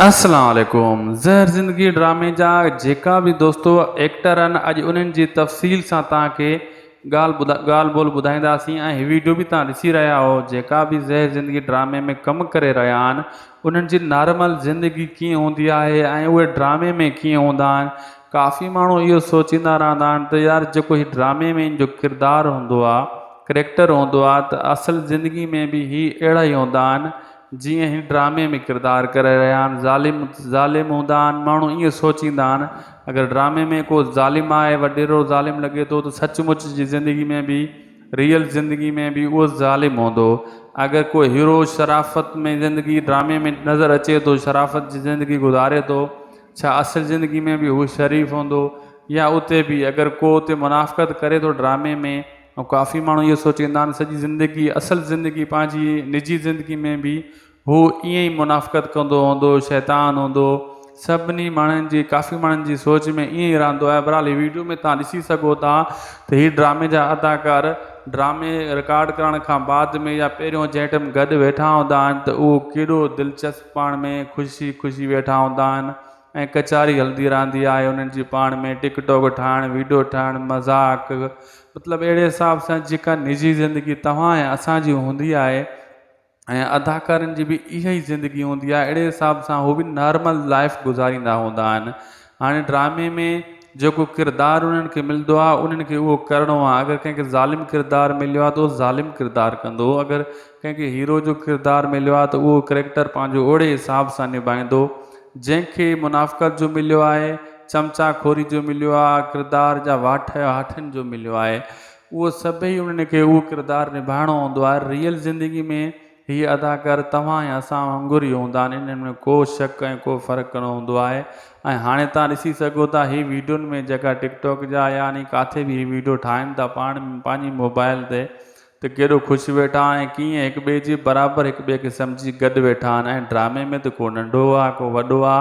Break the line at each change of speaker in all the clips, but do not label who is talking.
السلام عليڪم زهر زندگي ڊرامي جا جيڪا به دوستو ايڪٽر ان اڄ انهن جي تفصيل سان توهان کي ڳالهه ڳالهه ٻولهه ٻڌائينداسين ۽ هي ويڊيو به توهان ڏسي رهيا آهو جيڪا به زهر زندگي ڊرامي ۾ ڪم ڪري رهيا آهن انهن جي نارمل زندگي ڪيئن هوندي آهي ۽ اهي ڊرامي ۾ ڪيئن هوندا آهن ڪافي ماڻهو اهو سوچيندا رهندا آهن ته يار جيڪو هي ڊرامي ۾ ان جو ڪردار هوندو آهي ڪريڪٽر هوندو آهي ته اصل زندگي ۾ به هي اهڙا ئي هوندا آهن جيئن هن ڊرامي ۾ ڪردار ڪري رهيا آهن ظالم ظالم هوندا آهن ماڻهو ائين سوچيندا آهن اگر ڊرامي ۾ ڪو ظالم آهي وڏيرو ظالم لڳي ٿو ته سچ مچ جي زندگي ۾ به ريئل زندگي ۾ به اهو ظالم هوندو اگر ڪو هيرو شرافت ۾ زندگي ڊرامي ۾ نظر اچي ٿو شرافت جي زندگي گذاري ٿو ڇا اصل زندگي ۾ به هو شريف هوندو يا اتي به اگر ڪو اتي منافقت ڪري ٿو ڊرامي ۾ ۽ ڪافي ماڻهو اهو سوچيندا آهن سڄي زندگي اصل زندگي پنهنجي نجي زندگي ۾ به هو ائين ئي منافقت ڪندو هوندو شيطان هوندو سڀني ماڻهن جي ڪافي ماڻهن جي سوچ ۾ ائين ئي رهندو آهي بهرحال هي ويڊيو ۾ تهان ڏسي سگهو ٿا ته هي ڊرامي جا اداڪار ڊرامي رڪارڊ ڪرڻ کان بعد ۾ يا پهريون جنهن ٽيم گڏ ويٺا هوندا آهن ته اهو ڪيڏو دلچسپ پاڻ ۾ خوشي خوشي ويٺا هوندا آهن ۽ ڪچاري هلدي رهندي آهي انهن جي پاڻ ۾ ٽڪ ٽوڪ ٺاهڻ ويڊيو ٺاهڻ مذاق مطلب اهڙي حساب سان جيڪا نجي زندگي توهان ۽ اسان جي هوندي آهي ۽ اداڪارن جي به اها ئي زندگي هوندي آهي اهڙي حساب سان هو به نارمل لائف گذاريندا هوندا آهن هاڻي ڊرامي ۾ جيڪو ڪردار انهن کي ملندو آهي انهن کي اهو ڪرڻو آهي اگر ڪنهن کي ظالم ڪردار مليو آهي ته اهو ظالم ڪردار ڪندو اگر ڪنهن کي هيرو جو ڪردار مليو آهي ته اهو ڪريڪٽر پنهنجو اهڙي حساب سان نڀائيندو، جنهن کي منافقت جو مليو آهي، چمچا خوري جو مليو آهي، ڪردار جا واٺ هاٺين جو مليو آهي، اهو سڀئي انهن کي اهو ڪردار نڀائڻو هوندو آهي، ريئل زندگي ۾ هي اداڪار توهان ۽ اسان وانگر ئي هوندا آهن، انهن ۾ ڪو شڪ ۽ ڪو فرق نه هوندو آهي ۽ هاڻي توهان ڏسي سگهو ٿا هي ويڊيون ۾ جيڪا ٽڪ ٽاڪ جا يا انهي ڪاٿي به هي ويڊيو ٺاهن ٿا پاڻ پنهنجي موبائل تي ته ڪيڏو خوش ويٺا ۽ ڪيئن هڪ ٻئي جي برابر هڪ ٻئي کي سمجهي گڏ ويٺا آهن ۽ ڊرامي ۾ ته ڪو ننڍو آ ڪو وڏو آ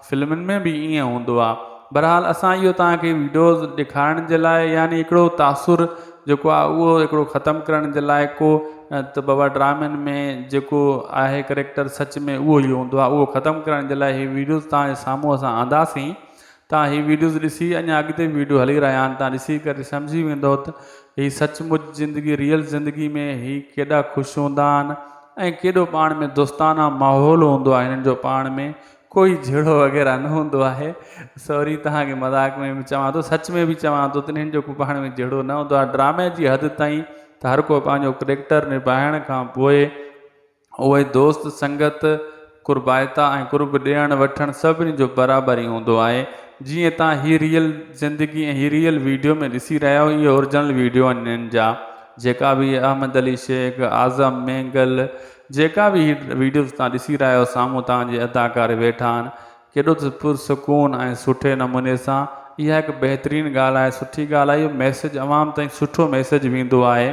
فلمن ۾ به ائين هوندو آ بھرحال اسان اهو توهان کي ويڊيوز ڏيکارڻ جي لاء يعني هڪڙو تاثر جيڪو آ اهو هڪڙو ختم ڪرڻ جي لاء ڪو ته بابا ڊرامن ۾ جيڪو آهي ڪريڪٽر سچ ۾ اهو ئي هوندو آ اهو ختم ڪرڻ جي لاء هي ويڊيوز توهان جي سامهون اسان آنداسين توهان هي ويڊيوز ڏسي اڃا اڳتي به ويڊيو هلي رهيا آهن توهان ڏسي ڪري سمجهي ويندو ته هي سچ مچ زندگي ريئل زندگي ۾ هي ڪيڏا خوش هوندا آهن ۽ ڪيڏو پاڻ ۾ دوستانه ماحول هوندو آهي هنن جو پاڻ ۾ ڪوئي جهيڙو وغيره نه هوندو آهي سوري توهان کي مذاق ۾ به چوان ٿو سچ ۾ به چوان ٿو ته هنن جو ڪو پاڻ ۾ جهيڙو نه هوندو آهي ڊرامي جي حد تائين ته هر ڪو پنهنجو ڪريڪٽر نباهڻ کان پوء اهي دوست سنگت، قربائتا ۽ قرب ڏيڻ وٺڻ سڀني جو برابر ئي هوندو آهي. جيئن تان هي ريئل زندگي ۽ هي ريئل ويڊيو ۾ ڏسي رهيا آهيو اهي اورجنل ويڊيو آهن هنن جا جيڪا به احمد علي شيخ، اعظم مينگل جيڪا به هي ويڊيوز تان ڏسي رهيا آهيو سامهون تان جي اداڪار ويٺا آهن ڪيڏو ته پر سڪون ۽ سٺي نموني سان اها هڪ بهترين ڳالهه آهي سٺي ڳالهه آهي اهو ميسج عوام تائين سٺو ميسج ويندو آهي.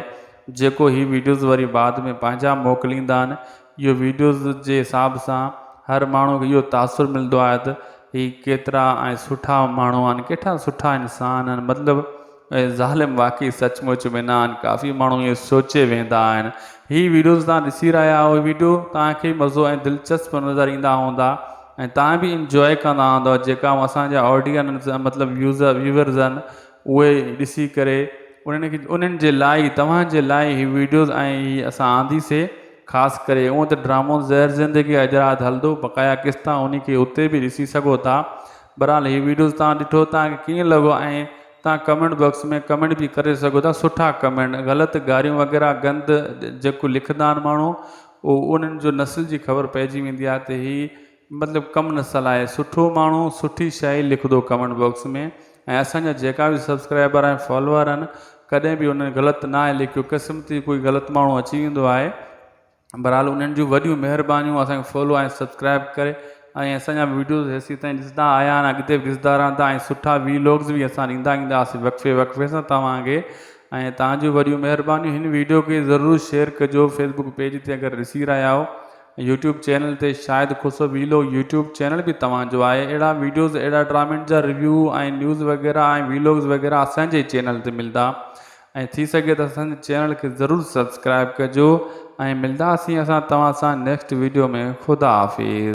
جيڪو هي ويڊيوز وري بعد ۾ پنهنجا موڪليندا آهن اهو ويڊيوز جي حساب سان هر ماڻهو کي اهو تاثر ملندو آهي ته هي ڪيترا ۽ سٺا ماڻهو آهن ڪيترا سٺا انسان آهن مطلب اهي ظالم واقعي سچ مچ ۾ نه آهن ڪافي ماڻهو اهو سوچي ويندا آهن هي ويڊيوز تان ڏسي رهيا آهيو ويڊيو تان کي مزو ۽ دلچسپ نظر ايندا هوندا ۽ تان به انجوائي ڪندا هوندا جيڪا اسان جا آڊينس مطلب يوزر ويورز آهن اهي ڏسي ڪري انهن کي انهن جي لاء ئي توهان جي لاء ئي هي ويڊيوز ۽ هي اسان آنديسي خاص ڪري اونء ته ڊرامو زهر زندگي حيدرآد هلندو بقايا قسطا انهي کي اتي به ڏسي سگهو ٿا برحال هي ويڊيوز توهان ڏٺو توهان کي ڪيئن لڳو ۽ توهان ڪمينٽ باڪس ۾ ڪمينٽ به ڪري سگهو ٿا سٺا ڪمينٽ غلط گاريون وغيره گند جيڪو لکندا آهن ماڻهو اهو انهن جو نسل جي خبر پئجي ويندي آهي ته هي مطلب ڪم نه صلاحي سٺو ماڻهو سٺي شاعري لکندو ڪمينٽ باڪس ۾ ۽ اسان جا جيڪا به سبسڪرائبر ۽ فالوور آهن ڪڏهن به انهن غلط ناهي لکيو قسمتي ڪوئي غلط ماڻهو اچي ويندو آهي بھرحال انهن جون وڏيون مهربانيون اسان کي فالو ۽ سبسڪرائب ڪري ۽ اسان جا وڊيوز هيسي تائين ڏسندا آيا آهن اڳتي به ڏسندا رهندا ۽ سٺا وي لاگز به اسان ڏيندا اينداسين وقفي وقفي سان توهان کي ۽ توهان جون وڏيون مهربانيون هن وڊيو کي ضرور شيئر ڪجو فيسبوڪ پيج تي اگر ڏسي رهيا آهيو يوٽيوب چينل تي Shahid Khusro vlog YouTube channel به توهان جو آهي اهڙا ويڊيوز اهڙا ڊرامين جا ريويو ۽ نيوز وغيره ۽ ويلوگز وغيره اسان جي چينل تي ملدا ۽ ٿي سگهي ته اسان جي چينل کي ضرور سبسڪرائب ڪجو ۽ ملداسين اسان توهان سان نيڪسٽ ويڊيو ۾ خدا حافظ.